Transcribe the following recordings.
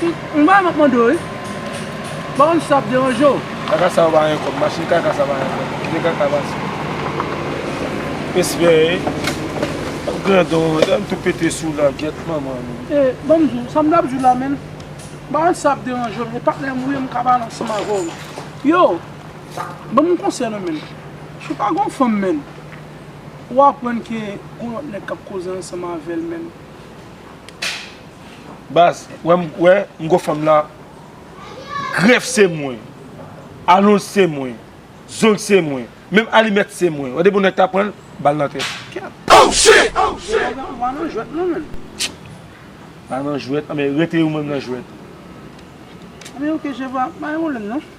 Yon bagay map mande w wi, m pa konn si sa ap deranje w. Kaka sa yo pa gen kob. Machine kaka sa pa gen kob. Kite kaka pase. Respè e. Wap grandon ou menm. Tou pete sou la gyet manman nou. E banm di w sa m tap di w la menm. M pa konn si sa ap deranje w. E patnè m ou ye m ka pale ansanm avè w. Yo. Banm yon konsèy nan menm. Si w pa gen yon fanm menm. Ou aprann ke gon lòt nèg kap koze ansanm avè l menm. Baz wè m wè m gwo fanm la grèf se mwen alonj se mwen zong se mwen menm alimèt se mwen wè depi yon nèg ta pranl bal nan tèt kyèt. Oh shit! Ou pa nan jwèt non menn. Pa nan jwèt anben rete ou menm nan jwèt. Anben ok Jèvwa pa gen pwoblèm non.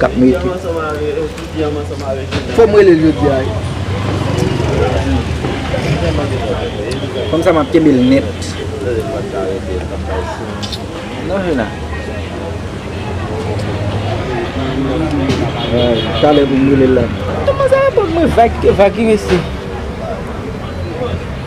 kap mete. Fom relel jodi a wi. Fanm sa map kenbel net. Non juna. Tale pou m relel la. Tout moun sa repon mwen vag ki mesi.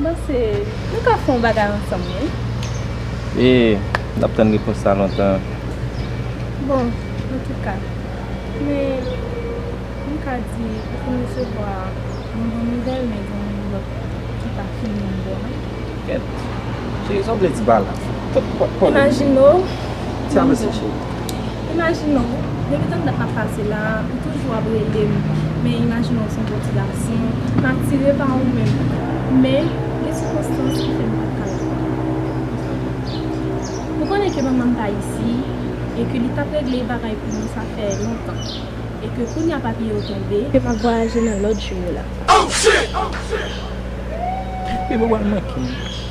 M panse nou ka fè yon bagay ansanm wi. E, n ap tann repons sa lontan an. Bon, antouka, men m ka di ou konn resevwa yon bon nouvèl men gen yon lòt ki pa fin menm bon non. Kèt. Cheri, sa w vle di pa la? Imajine w, yon jou. Sa vle di cheri? Imajine w, depi tank dat map pase la, ou toujou ap rele m, men imajine w se yon bon ti gason, m atire pa ou menm, men gen sikonstans ki fè m pat ka la avè w. Ou konnen ke manman m pa isi, e ke li tap regle bagay pou mwen sa fè lontan, e ke kounya papye yo tonbe, ke map vwayaje nan lòt jou yo la. Mwen pral manke w.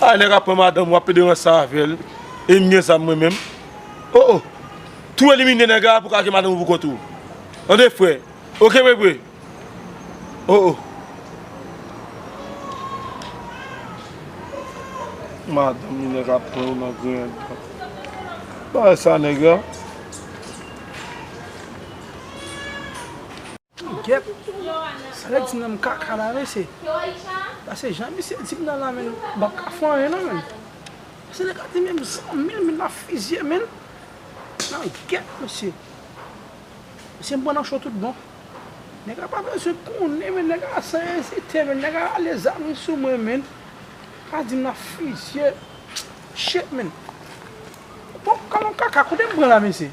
Ay nèg ap pran madanm wap pede ranse avèl em gen zam mwen menm oh oh tou elimine nèg la pou ka gen madanm ou pou kont ou tande frè ok mwen vre oh oh madanm li nèg ap pran nan griyen dan bagay sa nèg la. Gyèt salè di nan kaka la mesye pase jan misye di nan la menn bab ka fè anyen non menn se nèg la di menm san mil menn la fizye menn nan gyèt mesye mesye m pran nan cho tout bon nèg la pa bezwen konnen menn nèg la san ezite menn nèg la rale zam li sou mwen menn la di m nan fizye chet menn bon kalon kaka kote m pran la mesye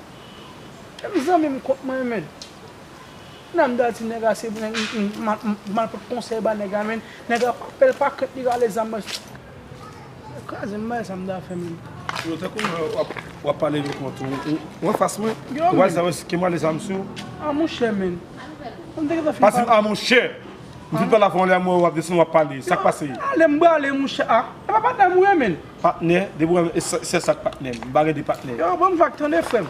e m zanmi m kont mwen menn. Nan dati nèg la se nèg mal pot konsèy ba nèg la menn nèg la pa pèl pa krent li rale zam nan. Yo krazem bagay sa mta fè menm. Yo te konn wap pale vek mwen tou ou anfas mwen ou pa janm eskim rale zam sou. A monchè menn. Pa dim a monchè. Ou fin pale avèm ou lèm wè wap desann wap pale sak pase. Ale m brale monchè a. E pa patnè m ou ye menn. Patnè depi ou wèm se sak patnè m. M pa gen 2 patnè. Yo banm vag tande frèm.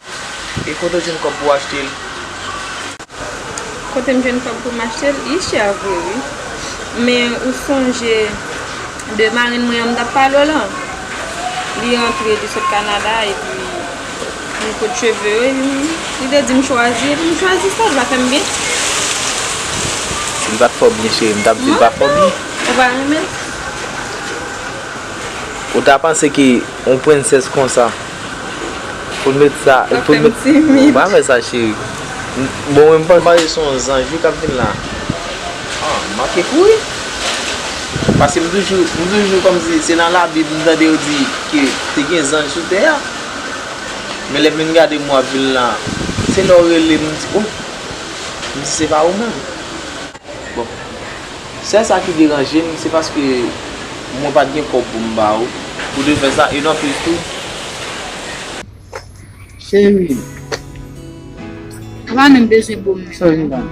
E kote w jwenn kòb pou w achte l? Kote m jwenn kòb pou m achte l? Li chè vre wi. Men ou sonje de marenn mwen an m t ap pale w lan? Li rantre, li sot Kanada epi li koud cheve yo epi li te di m chwazi epi m chwazi sa. Li pa fè m byen. Si l pa t fè w byen cheri m t ap di l pa fè w byen. Ou pa renmen l? Ou ta panse ke yon prensès konsa Pou met sa. Wap fem timid. Ou pa fe sa cheri. Bon mwen mpanse. Mpanse se yon zanj wi kap vin la. Ah m manke kouri. Paske m toujou m toujou komsi se nan la bib m tande yo di ke te gen zanj sou tè a. Men lèm vin gade mwen wap vin la. Se lè w relem m di oh. M di se pa ou menm. Bon sèl sa ki deranje m se paske mwen pat gen kòb pou m ba ou pou te fè sa e nan plis tou. Cheri m. Ou pa menm bezwen bo m menm non.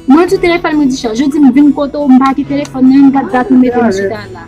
Mwen di telefòn mwen di chaj, ou di m vin kote w m pa gen telefòn nan menm gad dat ou mete m chita la.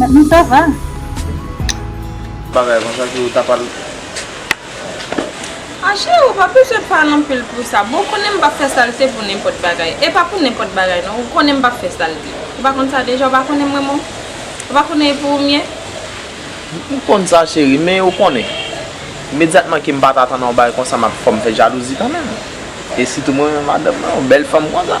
Mezanmi sa va? Bagay konsa ki ou ta pral. Ah cheri ou pa bezwen pale anpil pou sa boo, ou konnen m pap fè salte pou nenpòt bagay, e pa pou nenpòt bagay non, ou konnen m pap fè salte, ou pa konn sa deja, ou pa konnen m renmen w, ou pa konnen e pou ou m ye. M konn sa cheri, men ou konnen, imedyatman ke m pa t atann yon bagay konsa m ap fò m fè jalouzi kanmenm, e sitou mwen menm madanm nan, yon bèl fanm konsa.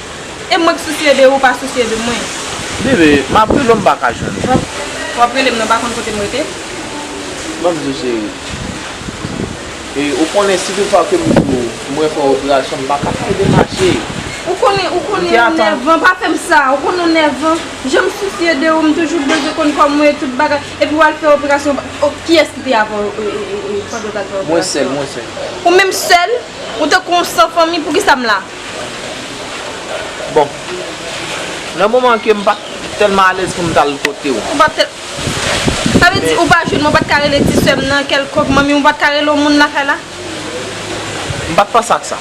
E mwen k sousye de ou pa sousye de mwen. Bebe, m ap rele w m pa ka jwenn ou. W ap rele m nan pa konn kote m rete. M ap di w cheri. E ou konnen si tout fwa ke m di w mwen fè operasyon m pa ka fè l demache. Ou konnen, ou konnen ou nèvan, pa fè m sa. Ou konnen ou nèvan. Jan m sousye de ou, m toujou bezwen konn kò mwen e tout bagay. Epi w al fè operasyon w pa. Kiyès ki te avè w pandan w t al fè operasyon an? Mwen sèl, mwen sèl. Ou menm sèl? Ou tankou yon san fanmi, poukisa m la? Bon. Nan moman ke m pat tèlman alèz pou m tal kote w. Ou pat tèl. Sa vle di ou pa jwenn mwen pat ka rele ti sè m nan kèlkonk manmi ou pat ka rele yon moun nan kay la? M pat panse ak sa.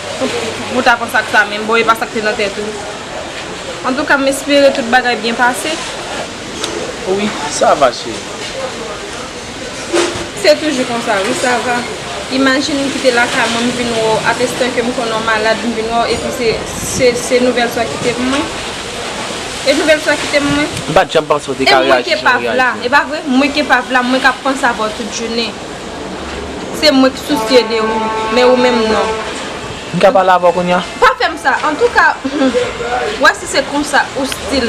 Ou ta panse ak sa menm. Bon e pa sa k te nan tèt ou. Antouka m espere tout bagay byen pase. Wi sa va cheri. Se toujou konsa wi sa va. Imajin m kite lakay mwen m vin wè w a pestan ke m konnen w malad m vin wè w epi se se nouvèl sa w kite pou mwen. E nouvèl sa w kite pou mwen. M pa t janm panse w te ka reyaji jan w reyaji an. E pa vre? Mwen ke pa v la, mwen k ap panse avè w tout jounen. Se mwen k sousye de ou, men ou menm non. M ka pale avè w kounya? Pa fè m sa! Antouka, humm, wè si se konsa ou stil.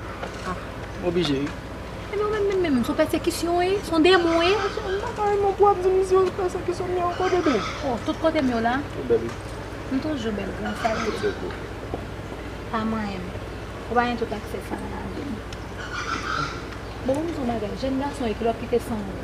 Ah m oblije wi. Ebyen ou menm menm menm son pèsekisyon w ye? Son demon w ye? Mwen pa ka renmen w pou w ap di m si yo pèsekisyon m yo ankò bebe. Oh tout kote m yo la? Ou bèl wi. M toujou bèl gran sa m ye. Pa manyen m. Ou pa gen tout aksè sa a nan la vi m. Bon m di w yon bagay, jèn gason e kilòt kite san w.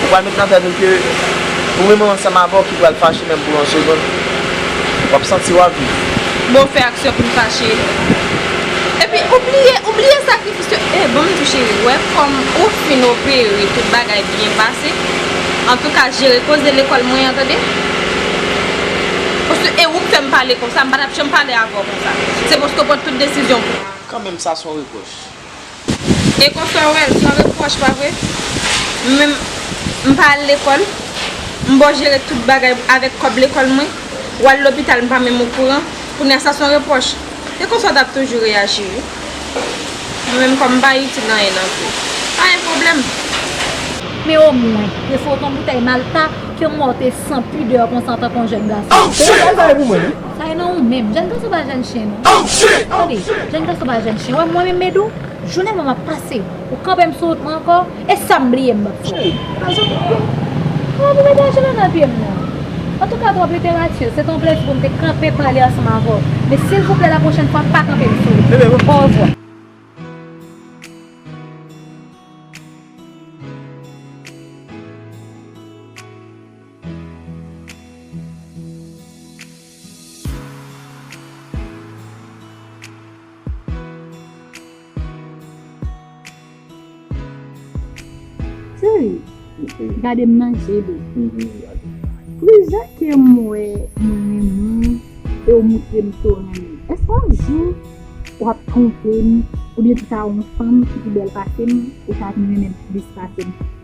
Ou pral met nan tèt ou ke ou menm ou ansanm avè w ki pral fache menm pou yon segond. W ap santi w ap viv. Bon ou fè aksyon pou n fache. Epi ou bliye, ou bliye sakrifis yo eh bon m di w cheri ou wè kòm ou fin opere tout bagay byen pase antouka jere koze lekòl mwen an tande paske e ou k fè m pale konsa m pa t ap janm pale avè w konsa se paske w pran tout desizyon pou. Kanmenm sa s on repwòch. E konsa ou wèl san repwòch pa vre? M menm m pa al lekòl, m bon jere tout bagay avèk kòb lekòl mwen, ou al lopital m pa menm okouran, kounya sa son repwòch? Se konsa w t ap toujou reyaji wi. Mwen menm kòm m pa itil anyen nan vi, pa gen pwoblèm. Men omwen, te fout on boutèy malta ke mò w te san pidè konsa antanke on jèn gason. Ou bèl bagay pou mwen wi. Sa ye nan ou menm. Jèn gason pa jèn chen non. Tande, jèn gason pa jèn chen. Ou wè mwen menm Medou, jounen mwen m'ap pase. Ou kanpe m' sou wout mwen ankò, e sa m' bliye m' p'ap fè w'. Nan zòt moun yo. Kòman pou mete achiman nan pye m' nan? Antouka twòp literati. Se te yon plezi pou m' te kanpe pale ansanm avè w'. Men silvouplè la pwochèn fwa pa kanpe m' sou wout. Orevwa. Gade m nan je li. Pou jan ke m wè mwen renmen w e w montre m ke w renmen m. Èske yon jou w ap twonpe m oubyen tou ta wè yon fanm ki pi bèl pase m ou ta vin renmen m plis pase m?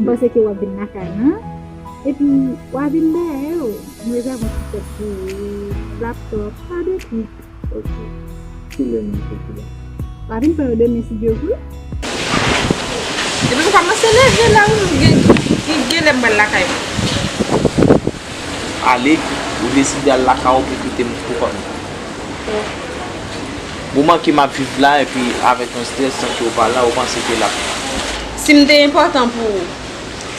M panse ke wap vin lakay mwen epi wa vin dèyè yo m rezève yon ti tèt pou ou laptop pa de twit ok ki lè nan twit ou la wa vin pran yo demen si Dieu vle. Depi nou kòmanse leve la wi m gen m gen lè m pral lakay mwen. Ale ou deside al lakay ou pou kite m pou kòm nan. Moman ke map viv la epi avèk yon stress san ke ou pa la ou panse ke lap. Si m te enpòtan pou ou.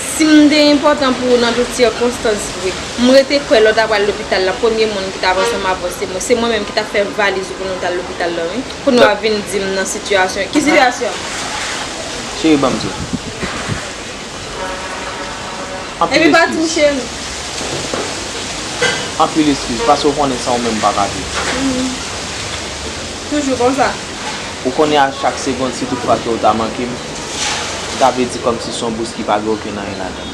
Si m te enpòtan pou ou nan tout sikonstans vre. M rete kwè lè w ta pral lopital la premye moun ki tap ansanm avè w se mwen. Se mwen menm ki tap fè valiz ou pou nou tal lopital la wi. Pou nou ap vin di m nan sitiyasyon. Ki sitiyasyon? Cheri banm di w. Anpil eskiz. Anpil eskiz. Pase ou konnen san ou menm m pa ka viv. Ou konnen a chak segond si tout fwa ke ou ta manke m, sa vle di kòmsi son bous ki pa gen okenn anyen ladan l.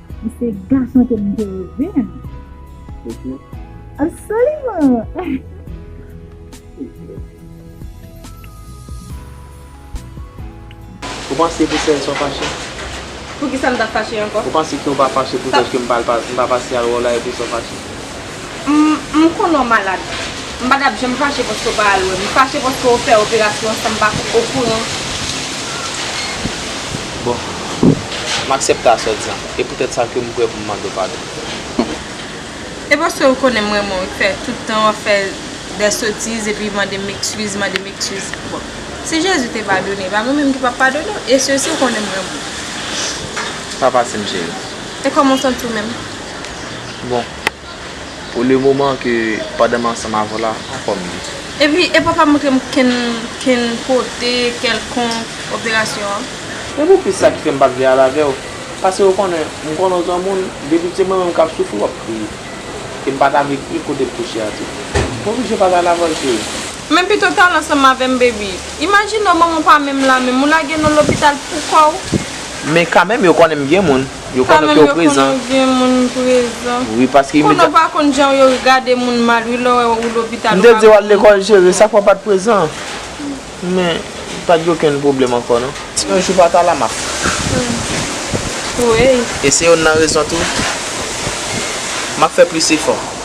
Li se gason ke m te reve a. Poutine? Absoliman! Ou panse pou sèl sa w fache? Poukisa m t ap fache ankò? Ou panse ke w pa fache pou dèske m pa pase al wè w la epi sa w fache? M m konnen w malad. M pa tap janm fache paske w pa al wè m. M fache paske w fè operasyon an san m pa okouran. Bon, m aksepte aswè di an. E poutèt sa ke m prè pou m mande w padon. E paske w konnen m renmen w, fè tout tan w ap fè dè sotiz epi mande m ekskiz, mande m ekskiz. Bon, si Jezi te padone, e pa mwen menm ki pap padone w. E se si w konnen m renmen w. Pa pati m cheri. E kòman w santi w menm? Bon. Pou le moman ke pandan m ansanm avè w la, pa kòm li. Epi e pa pa montre m kenn, kenn kote kèlkonk operasyon an. Se pou plis sa ki fè m pa vle al avè w. Pase ou konnen, m konnen w se yon moun, depi se mwen menm k ap soufri w ap kriye. E m pa ta vle kriye kote m kouche a tou. M oblije pa ta al avè w cheri. Men pito w t al ansanm avè m baby. Imajine w manman w pa menm la menm, ou lage nan lopital poukò w. Men kanmenm yo konnen m gen moun. Yo konnen ke ou prezan. Yo konnen vye moun prezan. Wi paske imediatman. Konnen ou pa konn jan yo gade moun mal wi lè ou lopital. M te di ou al lekòl chere sa fè ou pat prezan. Men pat gen okenn pwoblèm ankò non. Si yon jou pa ta la map. Kwè. E se yonn nan rezon tou. Map fè plis efò.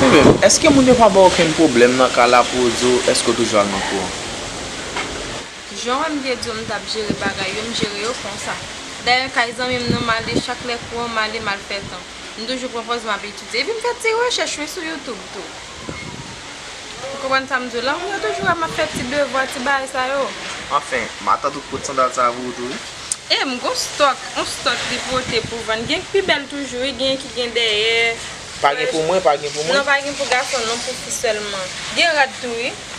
Humm eske moun yo pa baw okenn pwoblèm nan kay la pou yo di w eske w toujou al nan kou an? Jan wè m te di w m t ap jere bagay yo m jere yo konsa. Dayè kay zanmi m nan m ale chak lè kou an m ale m al fè tan. M toujou pran pòz m ap etidye epi m fè ti rechèch wi sou youtube tou. Ou konprann sa m di w la? Moun yo toujou wè m ap fè ti devwa, ti bagay sa yo. Anfen, matant ou pot sandal sa a pou ou tou wi. E m gon stòk, on stòk li pote pou vann. Gen k pi bèl toujou wi, genyen ki gen dèyè. Pa gen pou mwen, pa gen pou mwen? Non, pa gen pou gason non, pou fi sèlman. Gen rad tou wi.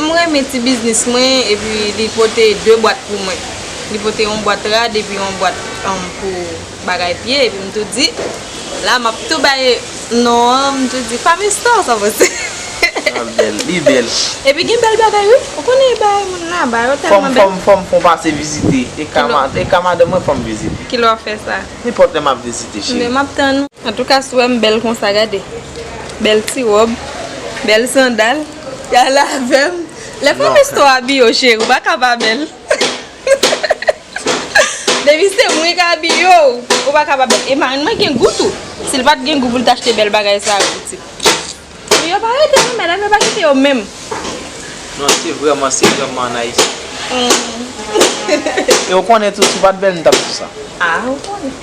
M renmen ti biznis mwen epi li pote 2 bwat pou mwen. Li pote yon bwat rad epi yon bwat pou bagay pye epi m tou di la map tou bay non an m tou di Femme Store sa vle di. Sa bèl, li bèl. Epi gen bèl bagay wi. Ou konnen e bagay moun la ba yo tèlman bèl. Fòm fòm fòm pase vizite e ka e ka madanm mwen fòm vizite. Kilè wap fè sa? Nenpòt lè map vizite cheri. Mwen map tann ou. Antouka si w wè m bèl konsa gade. Bèl ti wòb, bèl sandal. Y'ale avèm Lè fanm istwa a biyo cheri ou pa ka pa bèl Depi se mwen k abi yo ou pa ka pa bèl E marenn mwen gen gou tou Si l pa t gen gou pou l t achte bèl bagay sa yo pitit Pou yo pa rete nan mèd la pou yo pa kite yo menm Non se vrèman se vrèman an Ayiti E ou konnen tou si w pa t bèl m t ap di w sa A ou konnen